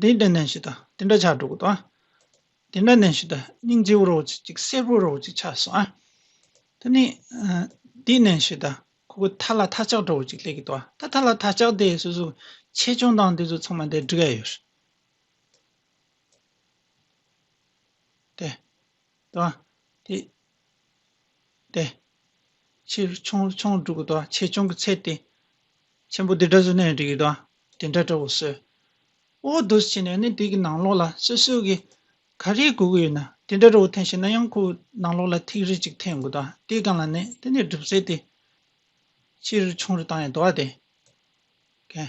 དེ་འདྲ་ནས་ཞིག་དང་དེ་འདྲ་ཆགས་འགྲོ་གི་དང། དེ་འདྲ་ནས་ཞིག་དང་སྙིང་རྗེ་བོ་རོ་ཅིག་ཅིག་གསེར་བུ་རོ་ཅིག་ཆགས་སོང་ཨ། དེ་ནས་དེ་ནས་ཞིག་དང་ཁོ་བོ་ཐ་ལ་ཐ་ཆགས་འགྲོ་བོ་ཅིག་སླེབས་གི་དང་ད་ཐ་ལ་ཐ་ཆགས་དེ་སོ་སོ་ཆེ་ཆུང་དང་དེ་ཚོ་ཚང་མ་དེ་འདྲི་ག་ཡོད་རེད་དེ། དང། དེ་ལྟའི་ཕྱིར་ཆུང་ཆུང་དྲུག་གི་དང་བ་ཆེ་ཆུང་གི་ཚད་དེ། ཆེན་པོ་དེ་འདྲ་སོ་ནའི་རིགས་དང་དེ་འདྲ་འདྲ་བོ་སོས། འོ་དོ་ཟེར་ནས་ནི་དེ་གི་ནང་ལོགས་ལ་སོ་སོའི་གི་ག་རེའི་གུ་གུ་ཡོད་ན་དེ་འདྲ་འདྲ་བོ་འཐེན་ཤེས་ན་ཡང་ཁོའི་ནང་ལོགས་ལ་ཐིག་རེ་གཅིག་འཐེན་དགོས་དང་དེའི་སྒང་ལ་ནི་དེ་ནི་སྒྲུབ་ཚད་དེ། ཕྱིར་ཆུང་རེ་དང་ཡང་དུ་བ་དེ། གན།